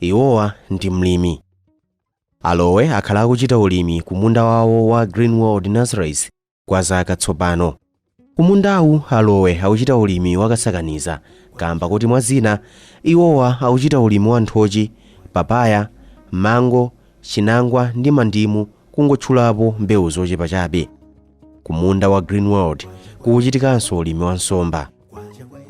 Iwowa ndi mlimi. A Lowe akhala akuchita ulimi ku munda wawo wa Green World Nurseries kwa zaka tsopano. Ku mundawu, a Lowe akuchita ulimi wa kasakaniza kaamba koti mwa zina, iwowa akuchita ulimi wa nthochi, papaya, mango, chinangwa ndi mandimu kungotchulapo mbewu zochepa chabe. Ku munda wa Green World kukuchitikanso ulimi wa nsomba.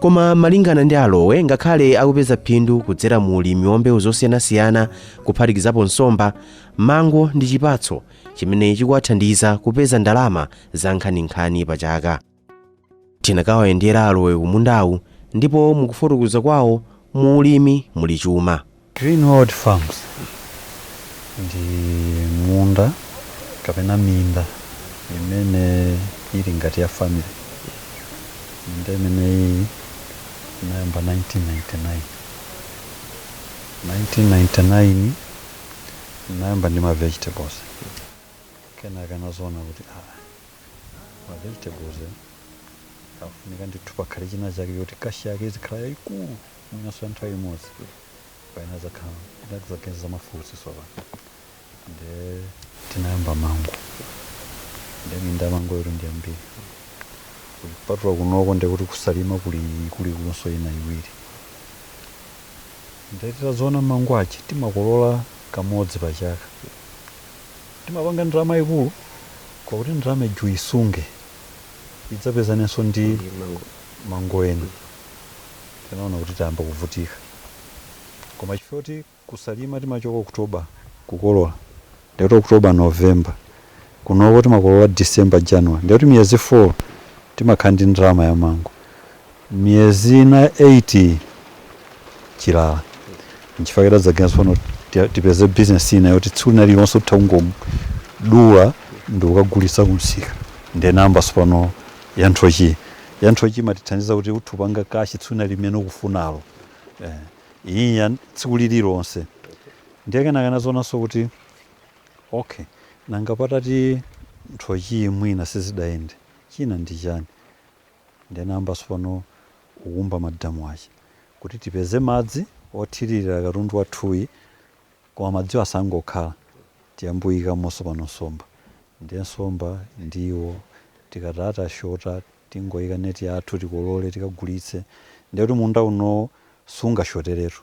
Koma malingana ndi a Lowe ngakhale akupeza phindu kudzera mu ulimi wa mbewu zosiyanasiyana kuphatikizapo nsomba, mango ndi chipatso chimene chikuwathandiza kupeza ndalama za nkhaninkhani pa chaka. Tinakawayendera a Lowe ku mundawu ndipo mukufotokoza kwawo mu ulimi muli chuma. Green World Farms ndi munda kapena minda imene ili ngati ya family. Minda imeneyi inayamba 1999. 1999 ndinayamba ndi ma vegetables. Kenaka nazoona kuti aa ma vegetables afunika ndithu pakhale chinachake kuti cash yake izikhala yaikulu. mwinanso ya nthawi imodzi pamene ndidzakhala ndidzaganiza za mafruits tsopano nde tinayamba mango nde minda ya mango ili ndi yambiri kupatula kunoko nde kuti ku Salima kuli ikuluikulunso ina iwiri nde titazaona mango ache timakolola kamodzi pa chaka timapanga ndalama yaikulu kwakuti ndalama ija uisunge idzapezanenso ndi mango ena Tinaona kuti tayamba kuvutika koma chifukwa choti ku Salima timachoka October kukolola ndiye kuti October, November kunoko timakolola December, January ndiye kuti miyezi 4 timakhala ndi ndalama ya mango. Miyezi ina 8 chilala nchifukwa chake tidadzaganiza tsopano ti- tipeze bizinesi ina yoti tsiku lina lililonse titha kungodula ndikukagulitsa kumsika ndiye nayamba tsopano ya nthochiyi ya nthochi imatithandiza kuti utha kupanga kashi tsiku limene ukufunalo eh, iyi ya tsiku lililonse ndiye kenaka nazaonanso kuti okay nanga patati nthochi mwina sizidayende china ndi chani ndiye nayamba sopano kukumba madamu ache kuti tipeze madzi othirira katundu wathuyi Koma madziwa asangokhala tiyambe kuikamonso pano nsomba ndiye nsomba ndiwo tikati tashota tingoika net yathu tikolole tikagulitse ndiye kuti munda uno sungashoteretu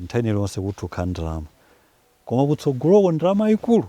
nthawi ina iliyonse kutha kukhala ndalama koma kutsogoloko ndalama yaikulu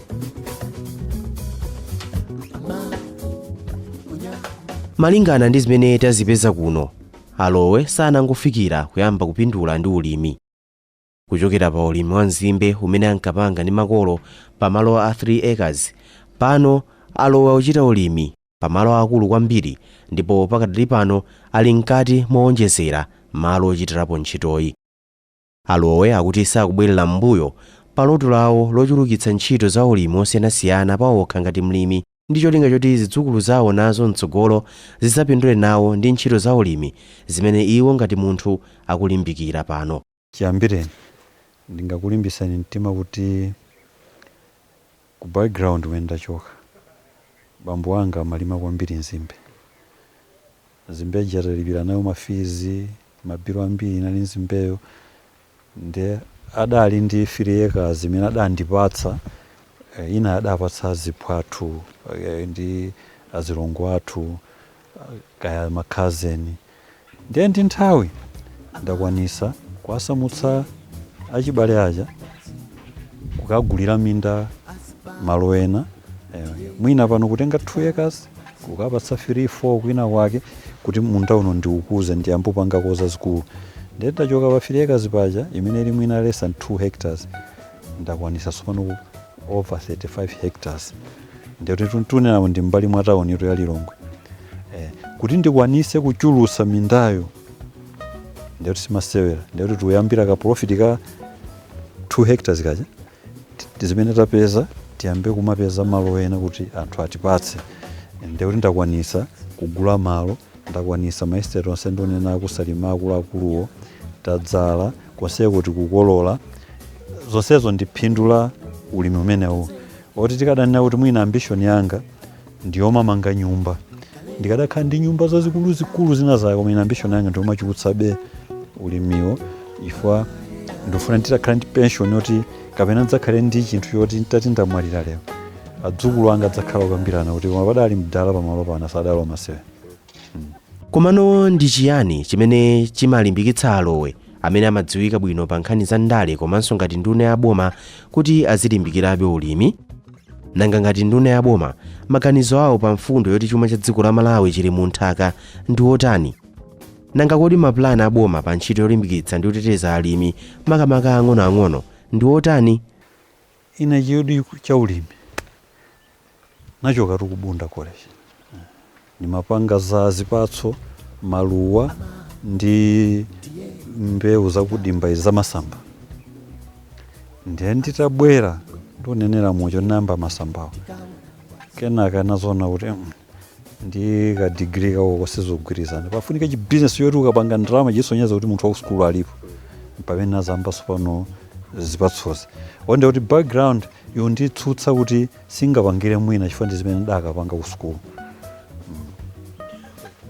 malingana ndi zimene tazipeza kuno alowe sanangofikira kuyamba kupindula ndi ulimi kuchokera pa ulimi wa nzimbe umene ankapanga ndi makolo pa malo a 3 acres pano alowe akuchita ulimi pa malo akulu kwambiri ndipo pakadali pano ali mkati mowonjezera malo ochitirapo ntchitoyi A Lowe akuti sakubwerera m'mbuyo pa loto lawo lochulukitsa ntchito za ulimi wosiyanasiyana paokha ngati mlimi ndi cholinga choti zidzukulu zawo nazo mtsogolo zidzapindule nawo ndi ntchito za ulimi zimene iwo ngati munthu akulimbikira pano. Chiyambireni, ndingakulimbitseni mtima kuti Ku background kumene ndachoka bambo anga amalima kwambiri nzimbe. Nzimbe ija talipira nayo ma fees, ma bill ambiri inali nzimbeyo. Nde adali ndi 3 acres imene adandipatsa, inayo adapatsa aziphwathu ndi azilongo athu. kaya ma cousin ndiye ndi nthawi ndakwanisa kuwasamutsa achibale aja kukagulira minda malo ena eh, mwina pano kutenga 2 acres kukapatsa 3 4 kwina kwake kuti munda uno ndiukuze ndiyambopangako za zikulu ndiye ndachoka pa 3 acres paja imene ili mwina less than 2 hectares ndakwanisa sopano over 35 hectares nde kuti tikunenawo ndi mbali mwa tauni ya lilongwe eh, kuti ndikwanise kuchulusa mindayo nde kuti simasewera nde kuti tikuyambira ka profit ka 2 hectares kaja Ti- ti- zimene tapeza tiyambe kumapeza malo ena kuti anthu atipatse nde kuti ndakwanisa kugula malo ndakwanisa maestate onse ndikunena aku Salima akuluakuluwo tadzala konseku tikukolola zonsezo ndi phindu la ulimi umenewu Oti tikadanena kuti mwina ambition yanga ndiyomamanga nyumba, ndikadakhala ndi nyumba zazikuluzikulu zina zake, koma ine ambition yanga ndiyomachulutsabe ulimiwo chifukwa ndifuna nditakhala ndi pension yoti kapena ndidzakhale ndi chinthu choti nditati ndamwalira lero adzukulu anga adzakhala akukambirana kuti koma padali mdala pamalo pano sadali wamasewera. Komano ndi chiyani chimene chimalimbikitsa a Lowe, amene amadziwika bwino pa nkhani za ndale komanso ngati nduna ya boma, kuti azilimbikirabe ulimi? Nanga ngati nduna ya boma, maganizo awo pa mfundo yoti chuma cha dziko la Malawi chili mu nthaka ndi otani? Nanga kodi mapulani a boma pa ntchito yolimbikitsa ndi kuteteza alimi, makamaka aang'onoang'ono, ndi otani? Ine chidwi cha ulimi nachokatu ku Bunda College. Ndimapanga za zipatso, maluwa ndi mbewu zakudimba izi zamasamba. Ndiye nditabwera ndi onenera muja ndinayamba masambawo. Kenaka ndinazoona kuti mm, ndi ka degree kako sizogwirizana pafunika chi business choti ukapanga ndalama chisonyeza kuti munthu wa kusukulu alipo pamene ndinayambano tsopano zipatsozi ndiye kuti background yonditsutsa kuti sindingapangire mwina chifukwa ndi zimene ndinakapanga kusukulu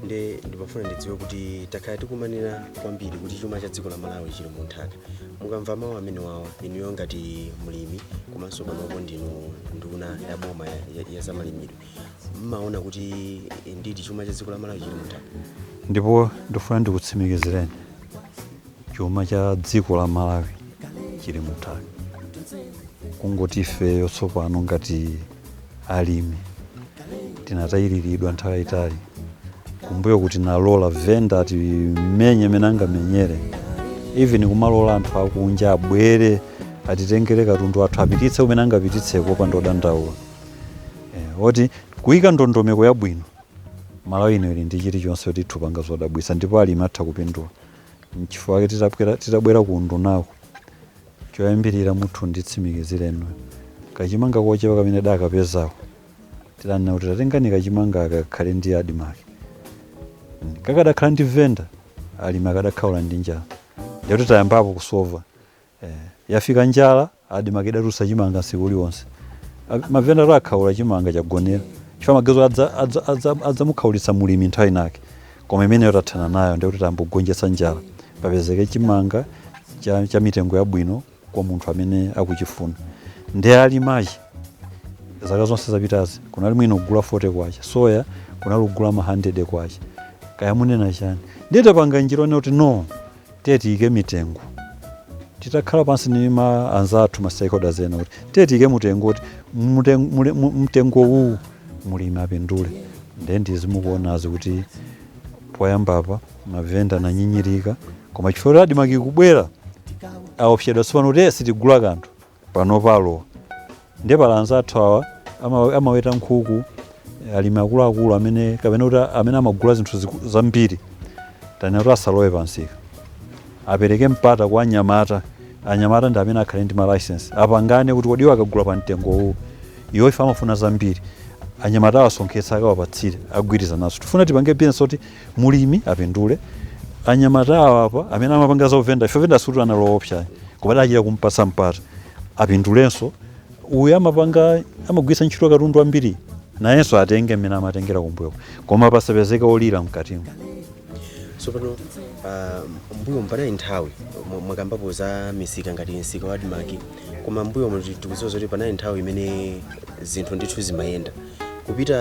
nde ndimafuna ndidziwe kuti takhala tikumanena kwambiri kuti chuma cha dziko la malawi chili mu nthaka mukamva mawu amenewawa inuyo ngati mlimi komanso panopo ndinu nduna ya boma ya- ya- ya zamalimidwe mumaona kuti ndidi chuma cha dziko la malawi chili mu nthaka ndipo ndifuna ndikutsimikizireni chuma cha dziko la malawi chili mu nthaka kungoti ifeyo tsopano ngati alimi tinatayiriridwa nthawi yayitali kumbuyo kutinalola venda atimenye mmene angamenyere even kumalola anthu akunja abwere atitengere katundu wathu apititse kumene angapititseko pamene ndikudandaula eh, koti kuika ndondomeko yabwino malawi ino ili ndi chilichonse kuti titha kupanga zodabwitsa ndipo alimi atha kupindula nchifukwa ake titabwera- titabwera ku undunako choyambirira mutha kunditsimikizira inu kachimanga kochepa kamene tidakapezako tinanena kuti tatengani kachimanga aka kakhale ndi admark kakadakhala ndi venda alimi akadakhaula ndi njala nde kuti tayambapo kusova Eeh yafika njala admark idatulutsa chimanga tsiku lililonse mavenda athu akhaula chimanga chagonera chifukwa amaganiza kuti adza adza adza adzamukhaulitsa mulimi nthawi inayake koma imeneyo tathana nayo ndekuti tayamba kugonjetsa njala papezeke chimanga cha cha mitengo yabwino kwa munthu amene akuchifuna nde alimi achina zaka zonse zapitazi kunali mwina kugula 40 kwacha soya kunali kugula ma 100 kwacha kaya munena chani ndiye tapanga njira yonena kuti no tiyeni tiyike mitengo titakhala pansi ndi anzathu ma stakeholders ena kuti tiyeni tiyike mtengo kuti muten- mule- mu- mtengo uwu mulimi apindule ndiye ndi zimene mukuonazi kuti poyambapa mavenda ananyinyirika koma chifukwa kuti admark kubwera aopsedwa tsopano kuti "Eh, sitigula kanthu panopa alowa ndiye pali anzathu awa ama- amaweta nkhuku alimi akuluakulu amene kapena kuti amene amagula zinthu ziku- zambiri tanena kuti asalowe pansika apereke mpata kwa anyamata anyamata ndi amene akhale ndi malicense apangane kuti kodi iwo akagula pa mtengo uwu iwo if amafuna zambiri anyamata awasonkhetsa akawapatsire agwirizanaso tifuna tipange bizinesi oti mulimi apindule anyamata awa apa amene amapanga za uvenda ife venda sikuti anali oopsa ayi. koma adachira kumpatsa mpata apindulenso uyu amapanga amagwiritsa ntchito katundu ambiri nayenso atenge mmene amatengera kumbuyo koma pasapezeke olira mkatimo tsopano ah, mbuyomu panali nthawi mwa- mwakambapo za misika ngati msika wa admarc koma mbuyomu tikudziwa zoti panali nthawi imene zinthu ndithu zimayenda kupita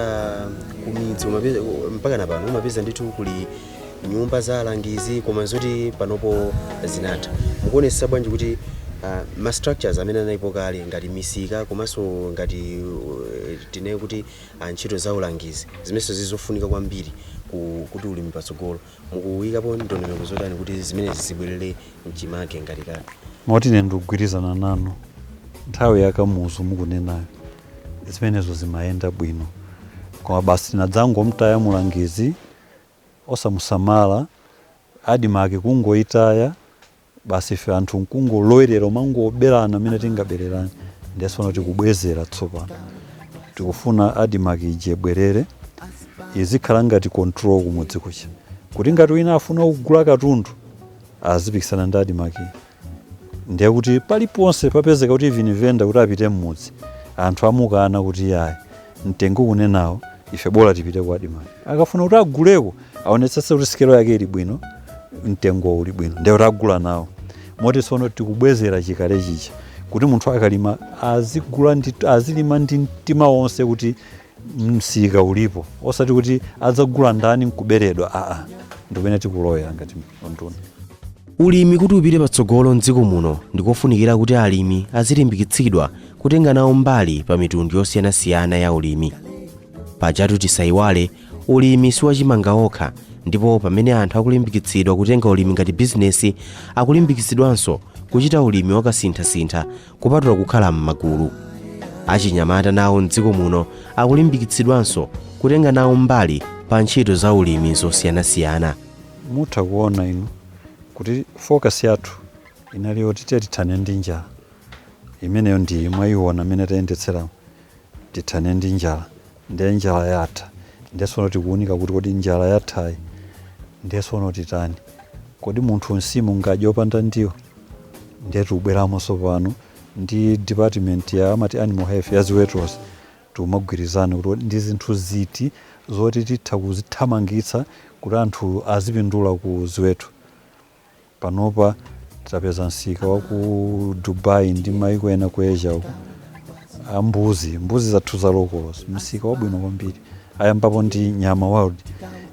ku midzi umapeza- mpaka na pano umapeza ndithu kuli nyumba za alangizi koma zoti panopo zinatha mukuonesa bwanji kuti ah, ma structures amene analipo kale ngati misika komanso ngati uh, tinene kuti ah, ntchito za ulangizi zimenenso zizofunika kwambiri ku- kuti ulimi patsogolo mukuyikapo ndondomeko zotani kuti zimenezi zibwerere mchimake ngati kale moti ine ndikugwirizana nanu nthawi ya Kamuzu mukunenayo zimenezo zimayenda bwino koma basi tinadzangomtaya mulangizi osamusamala admarc kungoitaya basi ife anthu nkungolowerera kumangoberana mmene tingabererane ndiye tsopano tikubwezera tsopano tikufuna admarc ija ibwerere izikhala ngati control kumudzi kuchita kuti ngati wina afuna kugula katundu azipikisana ndi admarc ndiye kuti paliponse papezeka kuti even venda kuti apite mmudzi anthu amukana kuti yayi mtengo mukunenawo ife bola tipite ku admarc akafuna kuti aguleko aonetsetse kuti sikelo yake ili bwino mtengo uli bwino ndiye kuti agula nawo moti tsono tikubwezera chikale chija kuti munthu akalima azigula ndi azilima ndi mtima wonse kuti msika ulipo osati kuti adzagula ndani nkuberedwa aa ndikumene tikulowera ngati unduna. Ulimi kuti upite patsogolo mdziko muno ndikofunikira kuti alimi azilimbikitsidwa kutenga nawo mbali pa mitundu yosiyanasiyana ya ulimi pajatu tisayiwale ulimi siwachimanga okha ndipo pamene anthu akulimbikitsidwa kutenga ulimi ngati bizinesi akulimbikitsidwanso kuchita ulimi wakasinthasintha kupatula kukhala m'magulu. Achinyamata nawo m'dziko muno akulimbikitsidwanso kutenga nawo mbali pa ntchito za ulimi zosiyanasiyana. mutha kuona inu kuti focus yathu inali yoti tiye tithane ndi njala imeneyo ndiye mwayiona mmene tayendetseramu tithane ndi njala Ndiye njala yatha. Ndiye tsono tikuunika kuti kodi njala yathayi ndiye tsono titani? Kodi munthu nsima angadye opanda ndiwo? Ndiye tikubweramo tsopano ndi department ya amati animal health ya ziwetozi tikumagwirizana kuti kodi ndi zinthu ziti zoti titha kuzithamangitsa kuti anthu azipindula ku ziweto. Panopa tapeza msika wa ku Dubai ndi maiko ena ku Asia uko a mbuzi mbuzi zathu za locals msika wabwino kwambiri ayambapo ndi nyama world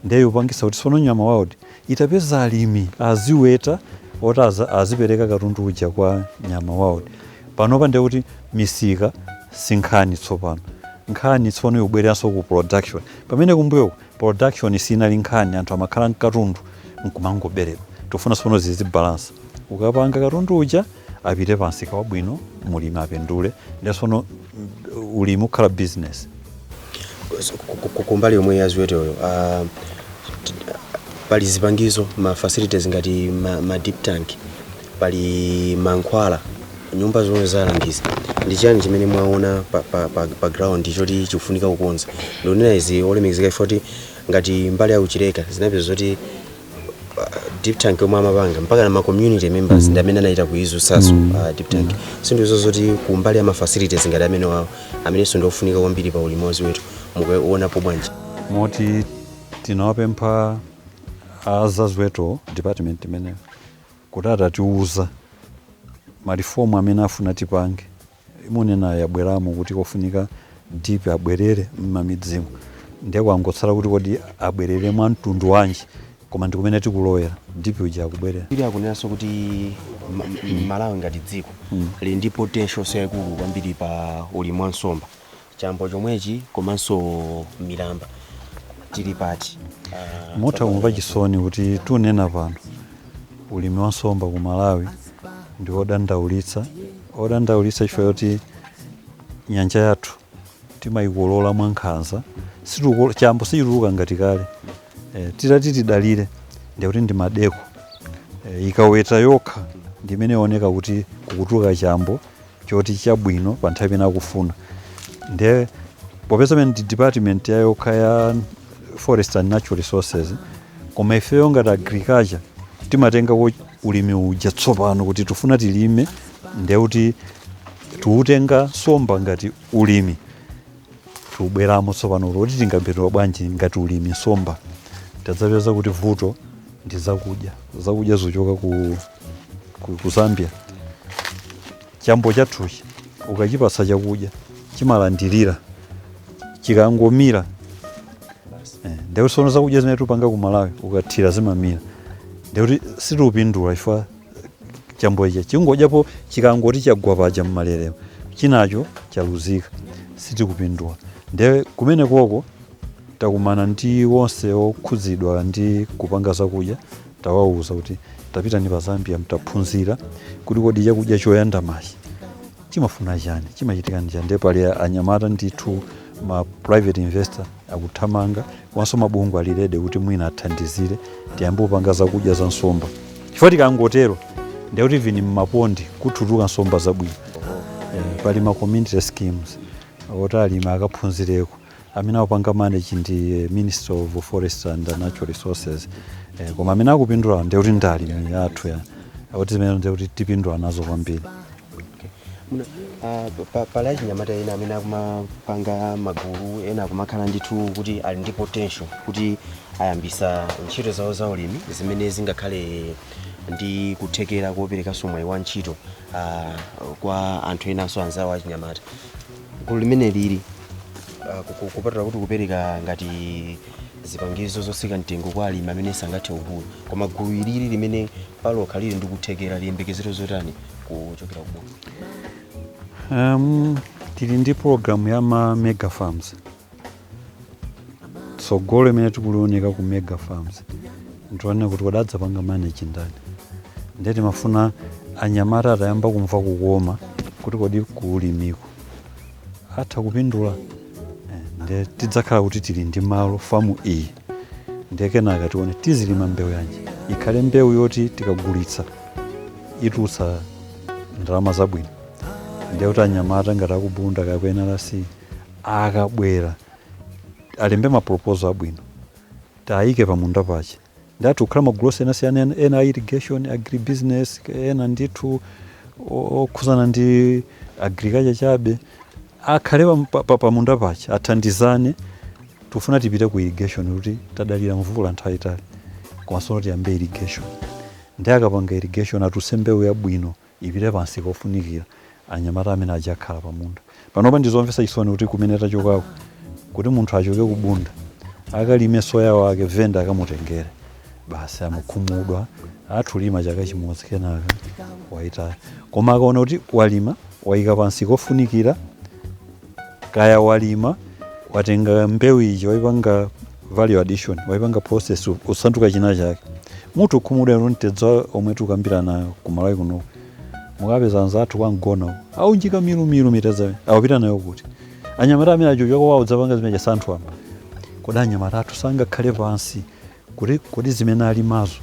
nde yopangisa kuti tsono nyama world itapeza alimi aziweta oti aza- azipereka katundu uja kwa nyama world panopa ndiye kuti misika si nkhani tsopano nkhani tsono ikubwereranso ku production pamene kumbuyoku production sinali nkhani anthu amakhala n'katundu nkumangoberedwa tikufuna sono zizibalansa ukapanga katundu uja apite pansika wabwino mulimi apindule nde sono ulimi ukhala business So, ku- ku- ku- kumbali yomwe ya ziweteyo ah, t- t- pali zipangizo ma facilities ngati ma, ma dip tank pali mankhwala nyumba zomwe za alangizi ndi chiyani chimene mwaona pa, pa, pa, pa ground choti chikufunika kukonza ndionena izi olemekezeka chifukwa kuti ngati mbali ya ku Chileka ndinapeza zoti dip tank yomwe amapanga mpaka na ma community members ndi amene anachita kuidzutsaso uh, dip tank zinthu izo zoti kumbali ya ma facilities ngati amenewawo amenenso ndi ofunika kwambiri pa ulimi waziweto mukuonapo bwanji moti tinawapempha azaziweto department imeneyo kuti atatiuza ma reform amene afuna tipange imene mukunenayo yabweramo kuti kofunika dip abwerere m'mamidzimu ndiye kwangotsala kuti kodi abwerere mwa mtundu wanji koma ndikumene tikulowera dip uja akubwerera ILO ikunenanso kuti ma- ma- Malawi ngati dziko lili ndi potential yaikulu kwambiri pa ulimi wa nsomba chambo chomwechi komanso milamba tili pati Ah, mutha kumva chisoni kuti tunena pano ulimi wa nsomba ku malawi ndi odandaulitsa odandaulitsa chifukwa choti nyanja yathu timayikolola mwankhanza Situko- chambo sichituluka ngati kale e, titati tidalire ndikuti ndi Maldeco e, ikuweta yokha ndi imene ioneka kuti kukutuluka chambo choti chabwino pa nthawi imene akufuna nde popeza pamene ndi department yayokha ya forest and natural resources koma ifeyo ngati agriculture timatengako ulimi uja tsopano kuti tifuna tilime nde kuti tiutenga nsomba ngati ulimi tubweramo tsopano kuti tingapindula bwanji ngati ulimi nsomba tadzapeza kuti vuto ndi zakudya zakudya zikuchoka ku, ku, ku zambia chambo chathuchi ukachipasa chakudya chimayandama chikangomira eh, ndekuti sono zakudya zimene tupanga ku malawi ukathira zimamira ndekuti sitiupindula chifukwa chambo ichi chingodyapo chikangoti chagwa paja mmalere chinacho chaluzika sitikupindula ndiye kumene koko takumana ndi wonse okhudzidwa ndi kupanga zakudya tawauza kuti tapitani pa zambia mukaphunzire kuti kodi chakudya choyandamachi chimafuna chani chimachitika ndi chani ndiye pali anyamata ndithu ma private investor akuthamanga komanso mabungwe ali ready kuti mwina athandizire tiyambe kupanga zakudya za nsomba chifukwa tikangotero ndiye kuti vuni mmapondi kutuluka nsomba zabwino pali ma community schemes oti alimi akaphunzireko amene akupanga manage ndi Ministry of Forestry and Natural Resources eh, koma amene akupindula ndiye kuti ndi alimi athu ya kuti zimene ndiye kuti tipindula nazo kwambiri Muna- ah, pa- pa- pali achinyamata ena amene akumapanga magulu ena akumakhala ndithu kuti ali ndi potential kuti ayambisa ntchito zawo za ulimi zimene zingakhale ndi kuthekera koperekanso mwayi wa ntchito ah, kwa anthu enanso anzawo achinyamata gulu limene lili ah, ku- ku- kupatula kuti kupereka ngati zipangizo zotsika mtengo kwa alimi amene sangathe kugula koma gulu ilili limene palokha lili ndi kuthekera liyembekezere zotani kuchokera ku boma Um, tili ndi program ya ma mega farms tsogolo imene tikulioneka ku mega farms tione kuti kodi adzapanga manage ndani ndiye timafuna anyamata atayamba kumva kukoma kuti kodi kuulimiko atha kupindula Eh, ndiye tidzakhala kuti tili ndi malo famu iyi ndiye kenaka tione tizilima mbewu yanji ikhale mbewu yoti tikagulitsa itulutse ndalama zabwino ndiye kuti anyamata ngati aku Bunda kapena NRC akabwera alembe ma proposal abwino tiwaike pamunda paja nde atha kukhala magulu osiyanasiyana ena- ena a irrigation agribusiness ena ndithu o- okhuzana ndi agriculture chabe akhale pam- pa- pa- pamunda paja athandizane tikufuna tipite ku irrigation kuti tadalira mvula nthawi yaitali koma tsono tiyambe irrigation nde akapanga irrigation atulutse mbewu yabwino ipite pa msika ofunikira anyamata amene adzakhala pa munda panopa ndi zomvetsa chisoni kuti kumene tachokako kuti munthu achoke ku Bunda akalime soya wake venda akamutengere basi amakhumudwa atha kulima chaka chimodzi kenaka waitaya koma akaona kuti walima waika pa msika ofunikira kaya walima watenga mbewu ija waipanga value addition waipanga process u- usanduka china chake mutha kukhumudwa inu mtedza omwe tikukambirana ku malawi kuno mukapeza anzathu kwa Mgona uwo aunjika milumilu mtedza akupita nayo kuti anyamata amene aja achoka kwawo kudzapanga zimene chasintha apa kodi anyamata athu sangakhale pansi kuti kodi zimene alimazo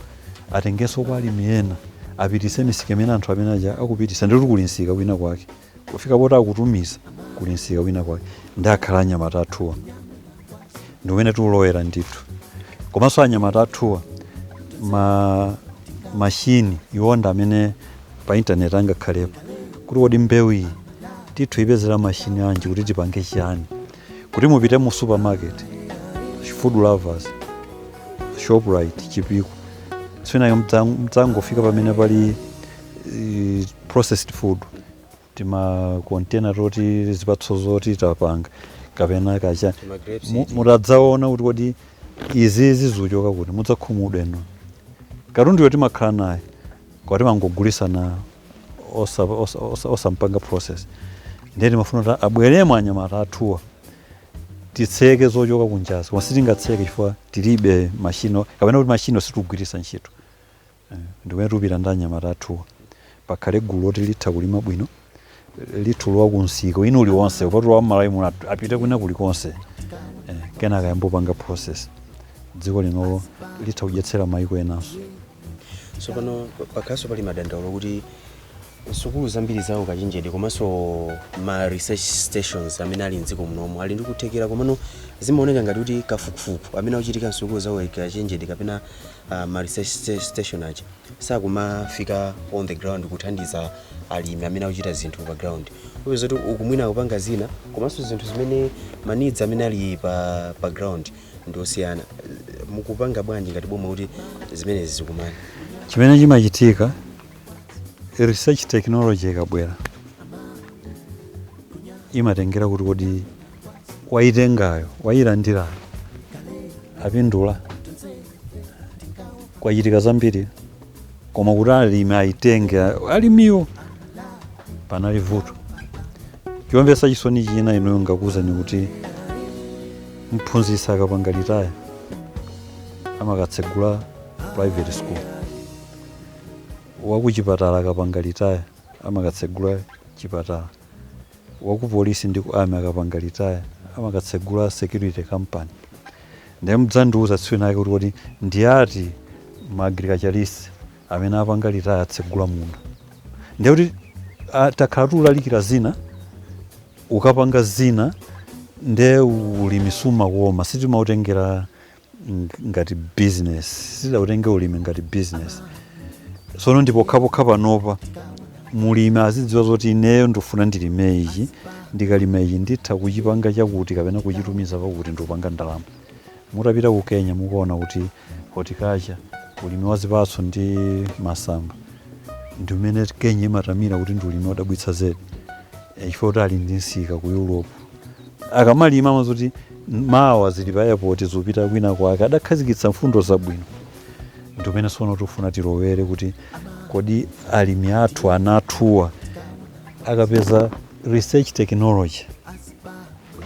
atengenso kwa alimi ena apitise misika imene anthu amene aja akupitisa ndikuti kuli nsika kwina kwake kufika poti akutumiza kuli msika kwina kwake ndiye akhala anyamata athuwa ndi umene tikulowera ndithu komanso anyamata athuwa ma mashini iwo ndi amene pa intaneti angakhalepo kuti kodi mbewu iyi titha kuipezera mashini anji kuti tipange chiyani kuti mupite mu supermarket food lovers shoprite chipiku Sana mudzangofika pamene pali eh, processed food timakontena toti zipatso zoti tapanga kapena kaya tima grapes Mu- iti. mukadzaona kuti kodi izi zikuchoka kuti mudzakhumudwa inu katundu yoti timakhala naye koma timangogulitsana osa- osa- osa- osampanga process ndiye timafuna kuti abweremo anyamata athuwa titseke zochoka kunjazi koma sitingatseke chifukwa tilibe mashini kapena kuti mashiniwo sitikugwiritsa ntchito Eh, ndi kumene tikupita ndi anyamata athuwa pakhale gulu loti litha kulima bwino litha kulowa ku msika wina uliwonse kupatula wa mmalawi muno at- apite kwina kulikonse eh, kenaka ayambe kupanga process dziko linoli litha kudyetsa mayiko enanso tsopano pakhalanso pali madandaulo kuti sukulu zambiri za ukachenjede komanso ma research stations amene ali mdziko munomu ali ndi kuthekera komano zimaoneka ngati kuti kafukufuku amene akuchitika msukulu za ukachenjede kapena a ma research station aja sakumafika on the ground kuthandiza alimi amene akuchita zinthu pa ground upeza kuti uku mwina akupanga zina komanso zinthu zimene ma needs amene ali pa, pa ground ndi osiyana mukupanga bwanji ngati boma kuti zimenezi zikumane chimene chimachitika research technology ikabwera imatengera kuti kodi wayitengayo wayilandirayo apindula kwachitika zambiri koma kuti alimi ayitenge alimiwo panali vuto chomvetsa chisoni china inuyo ndakuwuzani kuti mphunzitsi akapanga retire amakatsegula private school wakuchipatala akapanga retire amakatsegula chipatala wa ku police ndi ku army akapanga retire amakatsegula security company ndiye mudzandiuza tsiku linalake kuti kodi ndi ati ma agriculturist amene apanga retire atsegula munda ndiye kuti ah, takhala tikulalikira zina ukapanga zina nde ulimi siumakoma sitimautengera ngati business sitidautenge ulimi ngati business sono ndi pokhapokha panopa mulimi azidziwa zoti ineyo ndikufuna ndilime ichi ndikalima ichi nditha kuchipanga chakuti kapena kuchitumiza pakuti ndikupanga ndalama mutapita ku kenya mukuona kuti horticulture ulimi wa zipatso ndi masamba ndi umene kenya imatamira kuti ndi ulimi odabwitsa zedi Eh, chifukwa kuti ali ndi nsika ku europe akamalima amadziwa zoti mawa zili pa airport zikupita kwina kwake adakhazikitsa mfundo zabwino ndi kumene sono tifuna tilowere kuti kodi alimi athu ana athuwa akapeza research technology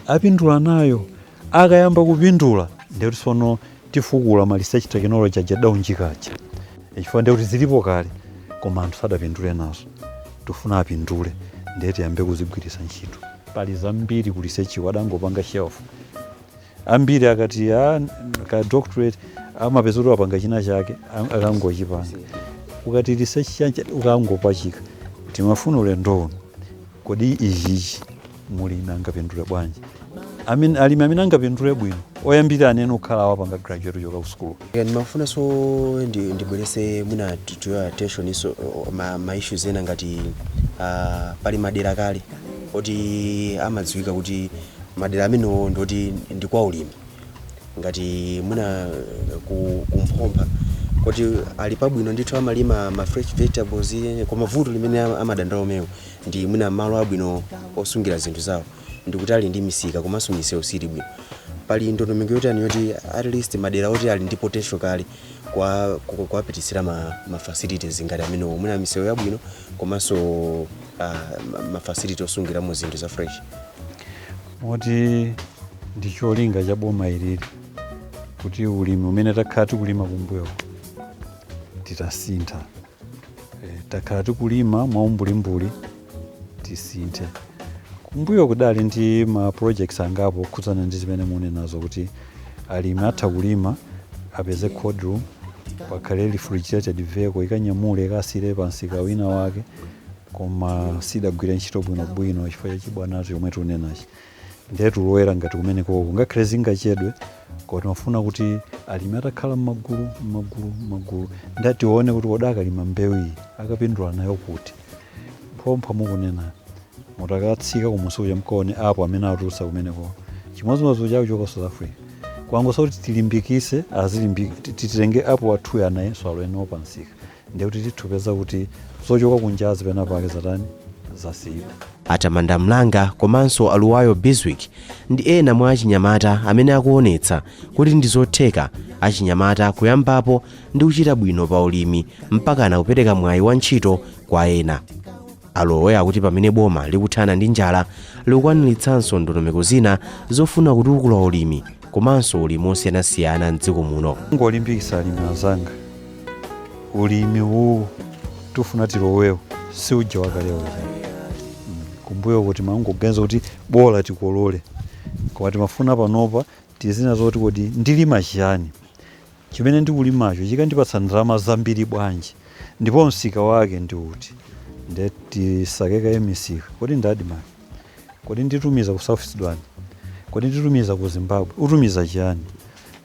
apindula nayo akayamba kupindula ndekuti sono tifukula ma research technology aja adaunjika aja chifukwa ndiye kuti zilipo kale koma anthu sadapindule nazo tifuna apindule ndiye tiyambe kuzigwiritsa ntchito pali zambiri ku research-ko adangopanga shelf ambiri akati "Ah, ka doctorate amapeza kuti wapanga china chake am- akangochipanga ukati research chanji ukangopachika tikufuna ulendo uno kodi ichichi mulimi angapindule bwanji amene alimi amene angapindule bwino oyambirira ndi amene okhala apanga graduate kuchoka ku sukulu Yeah, ndimafuna so ndi- ndibweretse mwina to- to your attention so uh, ma, ma issues ena ngati uh, pali madera kale oti amadziwika kuti madera amenewo ndoti ndi kwa ulimi ngati mwina uh, ku, kumphompha kuti ali pabwino ndithu amalima ma fresh vegetables eh, koma vuto limene ama- amadandaula omwewo ndi mwina malo abwino osungira zinthu zawo ndikutali ndi misika komanso misewu siili bwino pali ndondomeko yotani yoti at least madera oti ali ndi potential kale kwa- ku- kuwapititsira ma, ma facilities ngati amenewo mwina misewu yabwino komanso uh, ma, ma facility osungiramo zinthu za fresh moti ndi cholinga cha boma ili kuti ulimi umene takhala tikulima kumbuyo titasintha Eh, takhala tikulima mwaumbulimbuli tisinthe kumbuyo kudali ndi ma projects angapo okhudzana ndi zimene munenazo kuti alimi atha kulima apeze cold room pakhale refrigerated vehicle ikanyamule ikasiye pa nsika wina wake koma sidagwire ntchito bwinobwino chifukwa cha chibwanacho chomwe tikunenachi ndiye tulowera ngati kumenekoko ngakhale zingachedwe koma timafuna kuti alimi atakhala m'magulu m'magulu m'magulu ndiye tione kuti kodi akalima mbewu iyi akapindula nayo kuti phompho mukunena mutakatsika kumusi uja mkaone apo amene atulutsa kumeneko chimodzimodzi chawo chochoka south africa kwangosa kuti tilimbikise titenge apo athuyo anayenso alowenawo pansika ndiye kuti titha kupeza kuti zochoka kunjazi pena pake zatani zasiyidwa atamanda mlanga komanso aluwayo biswick ndi ena mwa achinyamata amene akuonetsa kuti ndi zotheka achinyamata kuyambapo ndi kuchita bwino pa ulimi mpakana kupereka mwayi wa ntchito kwa ena Alowe akuti pamene boma likuthana ndi njala likukwanilitsanso ndondomeko zina zofuna kutukula ulimi komanso ulimi osiyanasiyana m'dziko muno. Ngolimbikisa alimi anzanga, ulimi uwu tufuna tilowewo si uja wakale uja mm, kumbuyo kuti umangoganiza kuti bola tikolole koma timafuna panopa tiziona zoti kodi ndilima chiyani Chimene ndikulimacho chikandipatsa ndalama zambiri bwanji? Ndipo msika wake ndi uti? Ndiye tisake kaye misika. Kodi ndi admarc? Kodi nditumiza ku South Sudan? Kodi nditumiza ku Zimbabwe? Utumiza chiyani?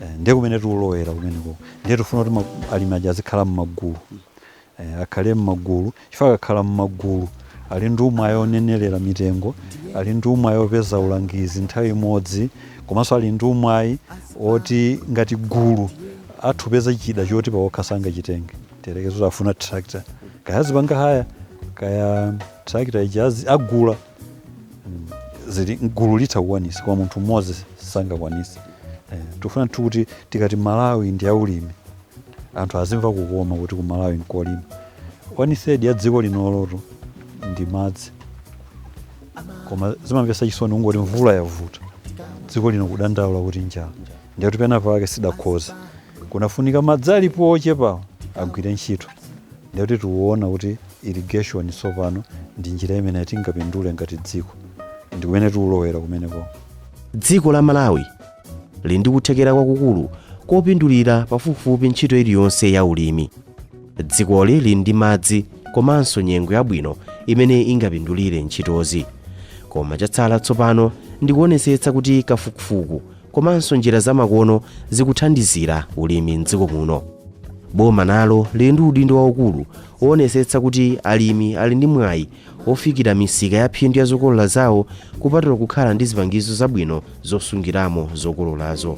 Eh, ndi kumene tiulowera kumenekoko. Ndiye tifuna kuti alimi aja azikhala m'magulu. Eh, akhale m'magulu chifukwa akakhala m'magulu ali ndi umwayi onenerera mitengo ali ndi umwayi opeza ulangizi nthawi imodzi komanso ali ndi umwayi oti ngati gulu atha kupeza chida choti pawokha sangachitenge tiyerekeze kuti afuna tractor kaya azipanga haya kaya tractor ija azi- agula zili m'gulu litha kukwanisa koma munthu mmodzi sangakwanise eh, tikufuna nthu kuti tikati malawi ndi yaulimi anthu azimva kukoma kuti ku malawi nkolima one third ya dziko lino lotu ndi madzi koma zimamvesa chisoni kungoti mvula yavuta dziko lino kudandaula kuti njala Ndiye kuti pena pake sidakhoza. Kunafunika madzi alipo ochepawo agwire ntchito. Ndiye kuti tiwona kuti irrigation tsopano ndi njira imene tingapindule ngati dziko. Ndi kumene tiulowera kumeneko. Dziko la Malawi lili ndi kuthekera kwakukulu kopindulira pafupifupi ntchito iliyonse ya ulimi. Dzikoli lili ndi madzi komanso nyengo yabwino imene ingapindulire ntchitozi. Koma chatsala tsopano ndi kuonesetsa kuti kafukufuku Komanso njira zamakono zikuthandizira ulimi m'dziko muno. Boma nalo lili ndi udindo waukulu woonesetsa kuti alimi ali ndi mwayi wofikira misika yaphindu ya zokolola zawo kupatula kukhala ndi zipangizo zabwino zosungiramo zokololazo.